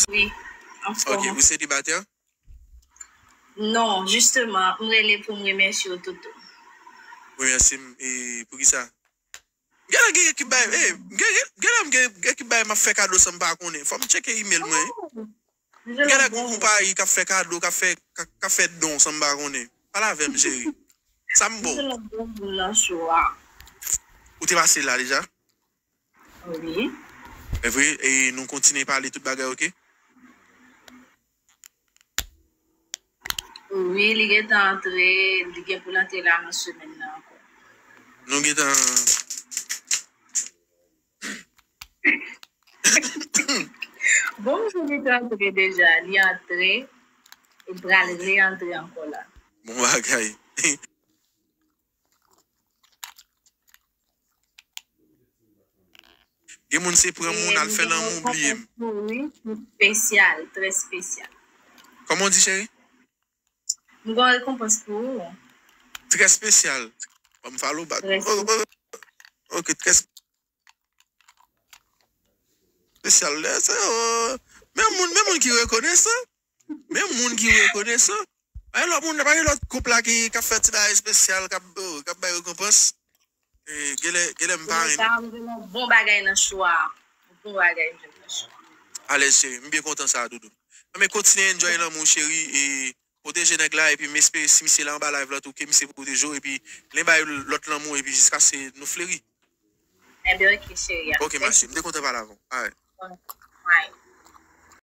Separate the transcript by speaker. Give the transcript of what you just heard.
Speaker 1: Wi, anfòm. Ok, ou selibatè? Non, jisteman, m rele pou m remèsye w tout tou. Remèsye
Speaker 2: m e poukisa? M genlè gen ekip bagay, e, m gen, genlè m gen ekip bagay m ap fè kado san m pa konnen. Fò m tcheke imel mwen. Oh! M genlè gen konpayi k ap fè kado, k ap fè, k ap fè don san m pa konnen. Pale avè m cheri. Sa m ba w? M se yon bon moun nan show a. Ou te pase la deja?
Speaker 1: Wi. Evre
Speaker 2: e nou kontinye pale tout bagay ok. Wi
Speaker 1: li gentan antre li gen poul antre la nan semèn nan ankò. Nou gentan Bon m sou li t antre deja li antre e pral re antre ankò la. Bon bagay.
Speaker 2: Gen moun se pran moun al fè lanmou bliye m. Gen yon bagay pou ou
Speaker 1: wi, m spesyal, trè spesyal. Kòman w di
Speaker 2: cheri? M
Speaker 1: gon rekonpans pou ou. Trè
Speaker 2: spesyal. Ban m follow back. Trè spesyal. Ok trè spesyal. Men moun ki rekonesan. Menm moun ki rekonesan. Pa gen lòt moun, pa gen lòt koup la ki k'ap fè ti bagay espesyal, k'ap k'ap bay rekonpans. Genlè, genlè m pa ri. Genlè sa rive m on bon bagay
Speaker 1: nan chwa a. On bon bagay m jwenn nan chwa a. Alèz cheri, m
Speaker 2: byen kontan sa doudou. Anben kontinye enjoy lanmou w cheri e pwoteje nèg la epi m espere si misye la anba live la tou ke misye pwoteje w epi li bay w lòt lanmou epi jiskaske nou fleri. Enben ok cheri
Speaker 1: a. Ok ma
Speaker 2: cheri, m
Speaker 1: te kontan
Speaker 2: pale avè
Speaker 1: w. Alright.
Speaker 2: Alright.